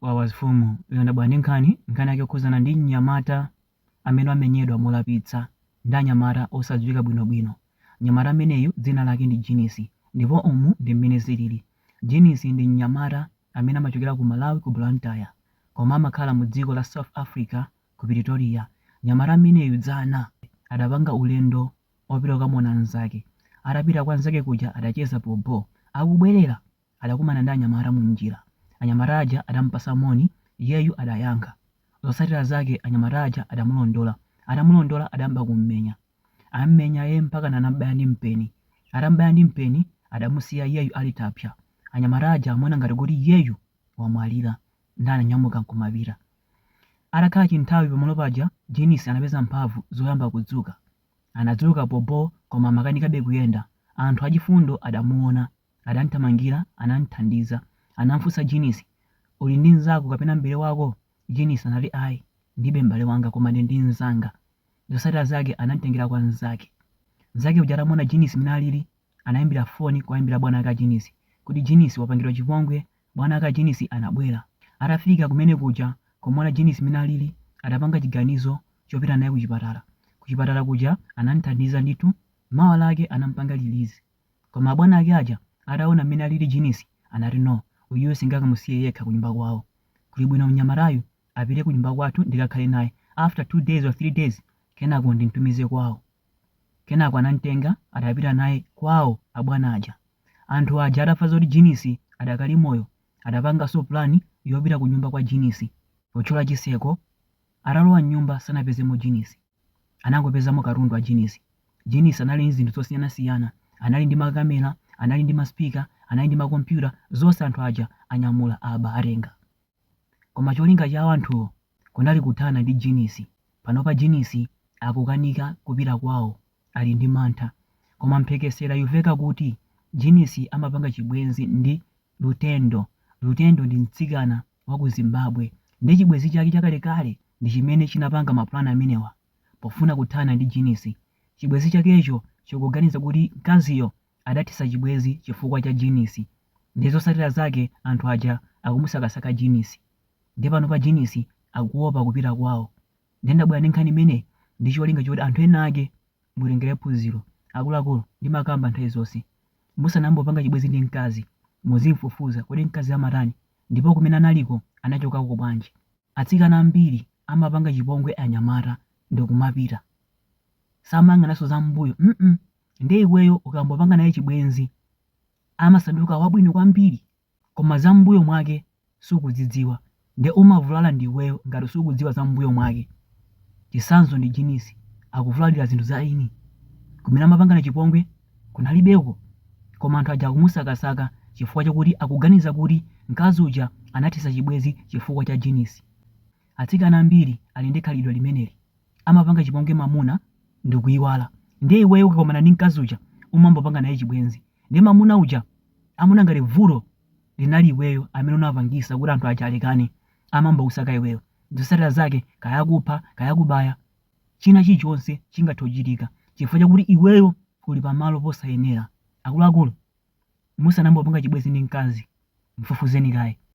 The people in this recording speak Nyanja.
Wawa mfumu ndabwera ndi nkhani nkhani yake yokhuzana ndi mnyamata amene wamenyedwa molapitsa ndi anyamata osadziwika bwino bwino mnyamata ameneyu dzina lake ndi jinisi ndipo umu ndi mmene zilili jinisi ndi mnyamata amene amachokera ku malawi ku blantyre koma amakhala mu dziko la south africa ku pretoria mnyamata ameneyu dzana adapanga ulendo opita kukamuona mzake atapita kwa nzake kuja adacheza bho bho akubwerera Adakumana ndi anyamata munjira. Anyamata aja adamupatsa moni, iyeyu adayankha. Zotsatira zake anyamata aja adamulondola. Atamulondola adayamba kummenya. Ammenya yee mpakana anamubaya ndi mpeni. Atamubaya ndi mpeni, adamusiya iyeyu ali thapsa. Anyamata aja amaona ngati kuti iyeyu wamwalira. Ndiye ananyamuka nkumapita. Atakhala chinthawi pamalo paja, Jinisi anapeza mphamvu zoyamba kudzuka. Anadzuka bho bho koma amakanikabe kuyenda. Anthu achifundo adamuona. Adamthamangira, anamthandiza. Anamfunsa Jinisi, Uli ndi mzako kapena m'bale wako? Jinisi anati ayi, ndilibe m'bale wanga koma ndili ndi mzanga. Zotsatira zake anamtengera kwa mzake. Mzake uja atamuona Jinisi mmene alili, anaimbira foni kuwaimbira bwana ake a Jinisi kuti Jinisi wapangidwa chipongwe. Bwana ake a Jinisi anabwera. Atafika kumene kuja kumuona Jinisi mmene alili, adapanga chiganizo chopita naye kuchipatala. Kuchipatala kuja anamthandiza ndithu, mawa lake anampanga release. Koma abwana ake aja ataona mmene alili Jinisi anati no uyuyu singakamusiye yekha kunyumba kwawo kuli bwino mnyamatayu apite kunyumba kwathu ndikakhale naye after 2 days or 3 days kenako ndimtumize kwawo kenako anamtenga adapita naye kwawo abwana aja. Anthu aja atava zoti Jinisi adakali moyo adapangaso plan yopita kunyumba kwa Jinisi potchola chiseko atalowa mnyumba sanapezemo Jinisi. anangopezamo katundu wa Jinisi. Jinisi anali ndi zinthu zosiyanasiyana, anali ndi ma camera, anali ndi ma speaker, anali ndi ma computer, zonse anthu aja anyamula aba atenga. Koma cholinga chawo anthuwo kunali kuthana ndi Jinisi. Panopa Jinisi akukanika kupita kwawo ali ndi mantha. Koma mphekesera yuveka kuti Jinisi amapanga chibwenzi ndi Lutendo. Lutendo ndi mtsikana. wa ku Zimbabwe ndi chibwenzi chake chakalekale ndi chimene chinapanga mapulani amenewa pofuna kuthana ndi jinisi. Chibwenzi chakecho chikuganiza kuti mkaziyo adathetsa chibwenzi chifukwa cha jinisi nde zotsatira zake anthu aja akumusakasaka jinisi nde panopa jinisi akuopa kupita kwawo. Nde ndabwera ndi nkhani imeneyi ndi cholinga choti anthu enaake mutengere phunziro. Akuluakulu ndimakamba nthawi zonse, musanayambe kupanga chibwenzi ndi mkazi muzimufufuza, kodi mkaziyo amatani? Ndipo kumene analiko anachokako bwanji? Atsikana ambiri amapanga chipongwe anyamata ndikumapita. Samayang'ananso za mmbuyo nde iweyo ukangopanga naye chibwenzi amasanduka wabwino kwambiri koma za mmbuyo mwake sukudzidziwa nde umavulala ndi iweyo ngati sukudziwa za mmbuyo mwake. Chitsanzo ndi Jinisi akuvulalira zinthu za eni kumene amapangana chipongwe. kunalibeko koma anthu aja akumusakasaka chifukwa chakuti akuganiza kuti mkazi uja anathetsa chibwenzi chifukwa cha Jinisi. Atsikana ambiri ali ndi khalidwe limeneli, amapanga chipongwe mamuna ndikuiwala ndiye iweyo ukakomana ndi mkazi uja umambopanga naye chibwenzi ndiye mamuna uja amaona ngati vuto linali iweyo amene unapangisa kuti anthu aja alekane amambokusaka iweyo zosatira zake kaya kupha kaya kubaya china chilichonse chingathe kuchitika chifukwa chakuti iweyo uli pamalo posayenera. Akuluakulu, musanayambe kupanga chibwenzi ndi mkazi, mfufuzeni kaye.